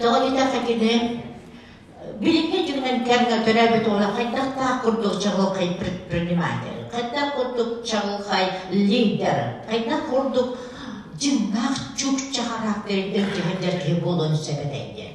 Тоҕо диэтэххэ кини билиҥҥи дьиҥинэн кэмҥэ төрөөбүт уола хайдахтаах курдук чаҕылхай предприниматель, хайдах курдук чаҕылхай лидер, хайдах курдук дьиҥнээх чукча характеринтэн дьиһиннэр киһи буолуон сөп этэй диэн.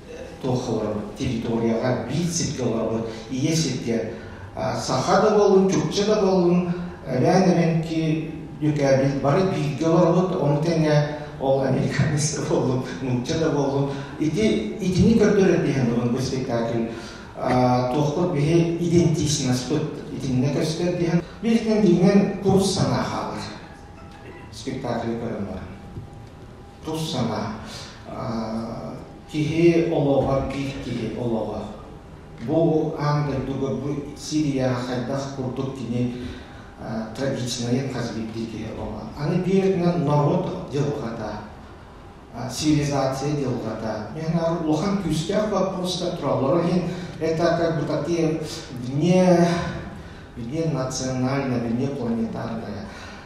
туох олоробут территорияҕа биир сиргэ олоробут ийэ сиргэ саха да болун чукча да болун өрөөн эбэнки дьүкээбил бары бииргэ олоробут ону тэҥэ ол американец да боллун нуучча да боллун ити итини көрдөрөр диһэн булун бу спектакль туохпут биһи идентичнаспыт итинне көстөр диһэн билинен дигинен курус санаа хаалар спектакль көрөн баран Тус сана, киһи олоҕор киһи киһи олоҕо. Бу аан дойдуга бу Сирияҕа хайдах курдук кини трагичнайы казбирдии киһи олоҕо. Аны биэринэн норуот дьылҕата, цивилизация дьылҕата. Мен улахан күүстээх вопростар тураллар. Иһин это как бы такие вне, вне национальная, вне планетарная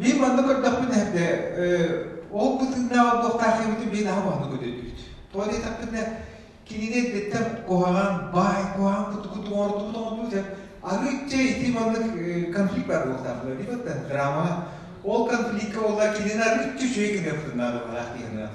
Мен манна көрдөхпүн эһдэ ол бытыыннааҕа туохтаах эбитин мен аһа маннык өдөйдүбүт. Тоҕо диэтэхпинэ кинини эрдэттэн куһаҕан баай куһаҕан кутугуту оҥордубут оҥордубут дьэ арыычча ити маннык конфликт баар буолтаахтара ди да драма ол конфликка буолла кинини арыычча үчүгэй гыныахтынаах дыылаах диэһинээх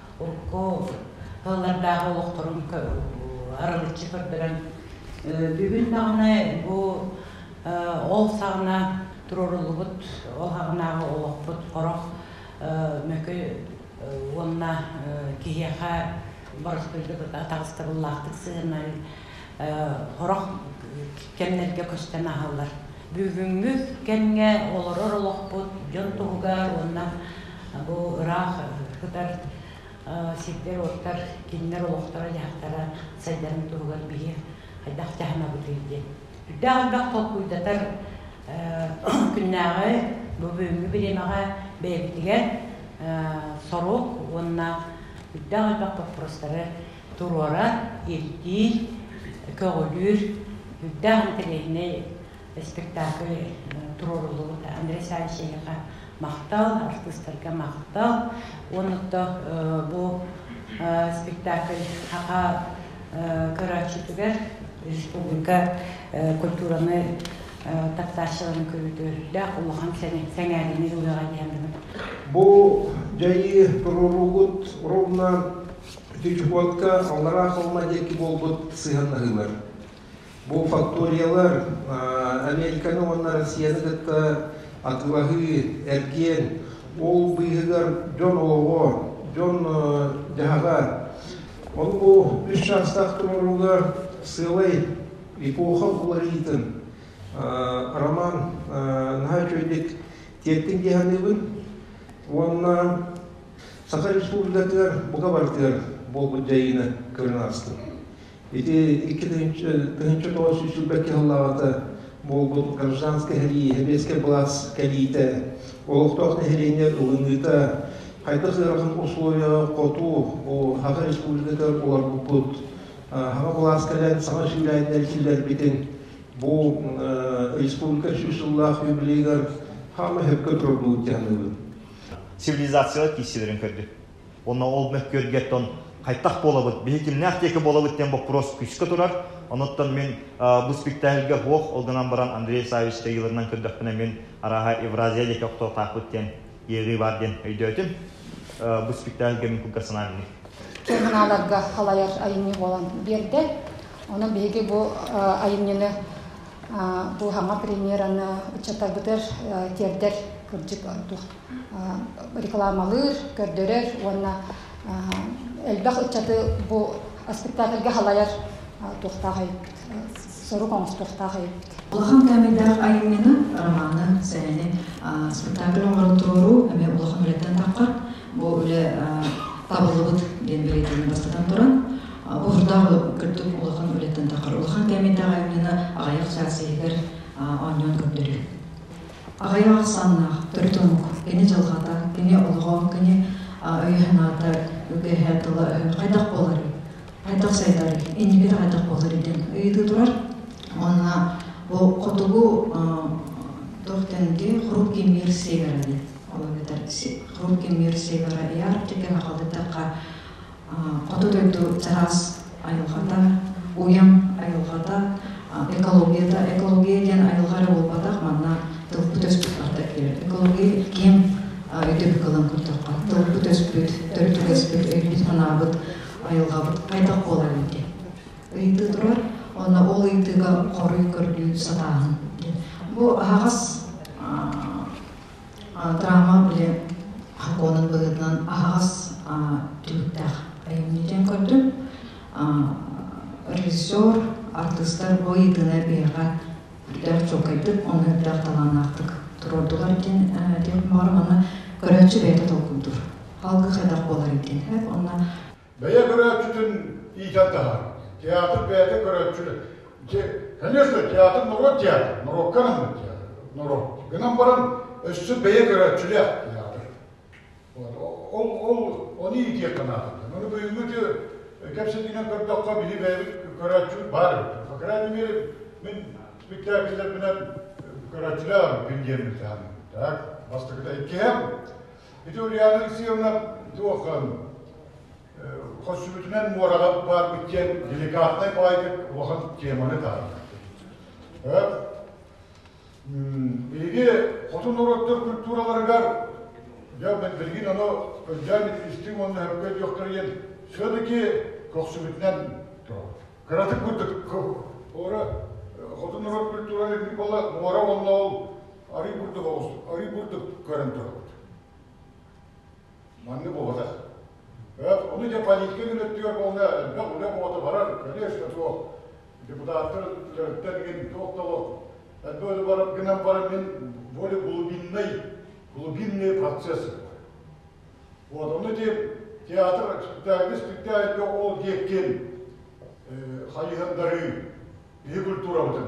урукку тыллардааҕы олохторун арылыччы көрдөрөн бүгүн даҕаны бу ол саҕана туруоруллубут ол саҕанааҕы олохпут орох мөкү уонна киһиэхэ боростуйдук атаҕастабыллаахтык сыһынар орох кэмнэргэ көстөн аһаллар Бүгүҥҥү кэмҥэ олорор олохпут дьон туһугар уонна бу ыраах кытар сирдэр-уоттар, кинилэр олохторо-дьаһахтара сайдарын туһугар биһиги хайдах дьаһанабытый диэн. Үрдээх элбэх толкуйдатар күннээҕи бу бүгүҥҥү бириэмэҕэ бэйэбитигэр сорук уонна үрдээх элбэх боппурустары туруора ирдиир, көҕүлүүр үрдээх интэриэһинэй спектакль туруоруллубут Андрей Савичевиха махтал, артыыстарга махтал. Уонна бу спектакль аха көрөөччүтүгэр республика культураны таптааччыларын көрүүтө үрдээх улахан сэҥээриини ылыаҕа диэн Бу дьайыы туруоруугут ровно Ити чугуотка Аллараа Холма диэки буолбут сыһыаннаһыылар. Бу факториялар Американы уонна Россияны кытта атыылаһыы, эргиэн, ол быыһыгар дьон олоҕо, дьон-дьаһаҕа. Ол-бу үс чаастаах толорууга сыалай эпоха уларыйыытын Роман наһаа үчүгэйдик тиэртин дии саныыбын уонна Саха Республикатыгар бука барытыгар буолбут дьайыыны көрөн аастым. Ити икки тыһынча тоҕус сүүс сүүрбэкки сыллааҕыта буолбут гражданскай сэбиэскэй сэбиэскэй былаас кэлиитэ, олохтоох нэһилиэнньэ ылыныыта, хайдах ыарахан условия хоту бу Саха Республикатыгар уларбыппыт, Саха былаас кэлэн саҥа сүүрээннэри киллэрбитин бу республика сүүс сыллаах юбилейыгар хаама сөпкө турбут дьаныыбын. цивилизациялар киирсиилэрин көрдү. Уонна ол мөккүөргэтон хайдах буолабыт, биһи кимнээх диэки буолабыт диэн боппуруос күүскэ турар. Онуттан мин бу спектакльга буох ол гынан баран Андрей Савич кыайыыларынан көрдөхпүнэ мин арааһа Евразия диэки охтуохтаахпыт диэн иэҕии баар диэн өйдөөтүм. Бу спектакльга мин кылгасынан инник. Киэҥаналарга халайар айымньы буолан биэрдэ. Онон биһиги бу айымньыны дууһаҥа премьераны ыччаттарбытыгар тиэрдэр кырдьык рекламалыыр, көрдөрөр уонна элбэх ыччаты бу спектакльга халайар туохтаах айыппыт, сорук оҥостуохтаах айыппыт. Улахан кээмэйдээх айымньыны, романын, сэрэни спектакль оҥорон туруоруу эмиэ улахан үлэттэн таххар бу үлэ табыллыбыт диэн бэлиэтиини бастатан туран Бу хурдаах кырдык улахан үлэтин тахар улахан кэмитэҕэ именно аҕайах саасыгар онньон көрдөрүү. Аҕайах саннаах, төрүт омук, кини дьылҕата, кини олоҕо, кини өйө-санаата, үгэһэ, тыла хайдах буоларый? Хайдах сайдарый? Инникитэ хайдах буоларый диэн ыйытыы турар. Онна бу хотугу тохтенди хрук кимир севера диэн. Ол эбэтэр хрук кимир севера яр деген ахалдатака хоту дойду чараас айылҕата, уйам айылҕата, экологията, экология диэн айылҕа эрэ буолбатах, манна тылбыт өспүт барда киирэр. Экология ким өйдөбүл ылан көрдөххө, тылбыт өспүт, төрүт үгэспит, өйбүт-санаабыт, айылҕабыт хайдах буолар эбитий? Ыйытыы турар, онно ол ыйытыыга хоруй көрдүү сатааһын. Бу аһаҕас Драма били Хаконын быһыытынан аһаҕас түбүктээх айымньытын көрдүм. Режиссер, артыыстар бу ыйытыыны биһиэхэ үрдэх чуолкайдык, онно үрдэх талааннаахтык турордулар диэн диэх баҕар, манна көрөөччү бэйэтэ толкуйдуур. Халгы хайдах буолар диэн. Онно бэйэ көрөөччүтүн иитэн таһаар. Театр бэйэтэ көрөөччү. Конечно, театр норуот театр, норуокка анаһыт театр, норуот. Гынан баран өссө бэйэ көрөөччүлээх театр. Ол ол оны иитиэххэ наадата. Оны бүгүҥҥү кэпсэтинэн көрдөххө били бэйэбит көрөөччүбүт баар эбит. По крайней мере, мен спектакльлербинэн көрөөччүлээх күн диэммит так. Бастакыта иккиһэ Ити Ульяна Алексеевна туох Хочсубутунан муораҕа баар битиэн деликатнай баайдык улахан теманы таһынна. Биһиги хотун ороттор культураларыгар я билигин ону өйдөөн истиҥ уонна хөпкө диохтарыйын все-таки көхсүбүтүнэн кыратык курдук ора хотун орот культураларын бала муора уонна ол арый бурдук оҕустук арый бурдук көрөн турабыт манны буолатах Ону дьэ полиция гынаттыгар буолла элбэх үлэ буота барар, конечно, туох депутаттар төрүттэн мин туох толох Отсюда барып гынан барам мен более глубинный, глубинный процесс Вот оны деп театр спектакль спектакльге ол диэккен хайыһандары биһи культурабытын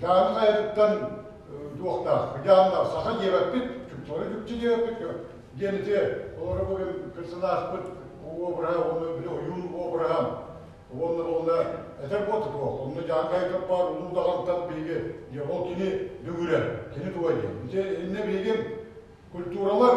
Дьааны хайатыттан туохтаах? Дьаанна саха диэбэппит, чупсары чупчу диэбэппит, диэн ити олоро бүгін персонажпыт обраһа уонна били ойуун обраһа уонна уонна этэр буотта туох уонна дьаан хайытар баар улуу даҕантан биһиги диэ ол кини бүгүрэ кини туга диэн ити иннэ биһиги культуралар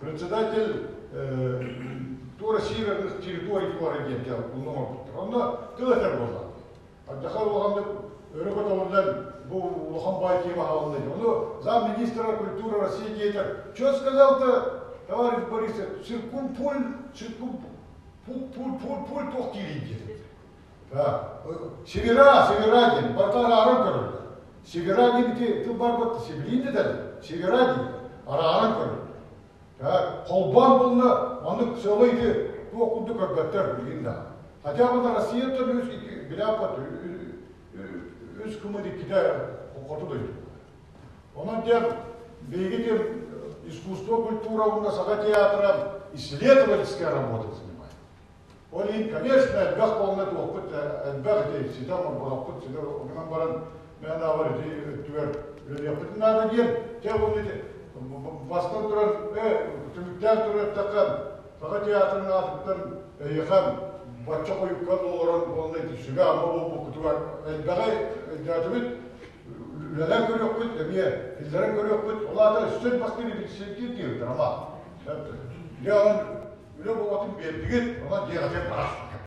председатель тура северных территорий туора диэн кэл ууну оҥорбуттар онно тыл этэр буолла аддаха улаханнык өрө көтөҕүллэн бу улахан бай тема аһылынна ону зам министра культуры россии диэтэр что сказал-то товарищ борисович циркум пуль циркум пуль пуль пуль пуль тох диирин диэтэ Севера, Севера диэн, бартарааран көрөллөр. Севера диэбити тыл барбыт сибилиин дэтэлэр. Севера диир, арааран көрөллөр. Холбоон булна, оннук сылыйды, туох курдук көргөттөр билин даҕа. Хотя бы на Россия то үс iki biляпат үс кымы диккитэ хоту дойду. Онон диэн биһиги диэн искусство, культура уонна саха театра исследовательская работа занимает. Ол иһин, конечно, элбэх буолла туохпут элбэх ити ситэ орбонохпут ситэ гынан баран мээнэҕэр ити өттүгэр үлэлиэхпитин наада диэн те уонна бастан туран түмүктээн тураттахха саха театрын аатыттан эйиэхэ бачча хойукка олорон буолла ити сүгэ ама буолбуккутугар элбэҕи өйдөөтүбүт Үлэлэр көрүөхпүт эмиэ, кинилэрин көрүөхпүт, ол аата сир бастыыр билсиэрдиир диэбиттэр ама. Дьэ онон үлэ буолбатын биэрдигит, онон дьиэҕэ бараспыккыт.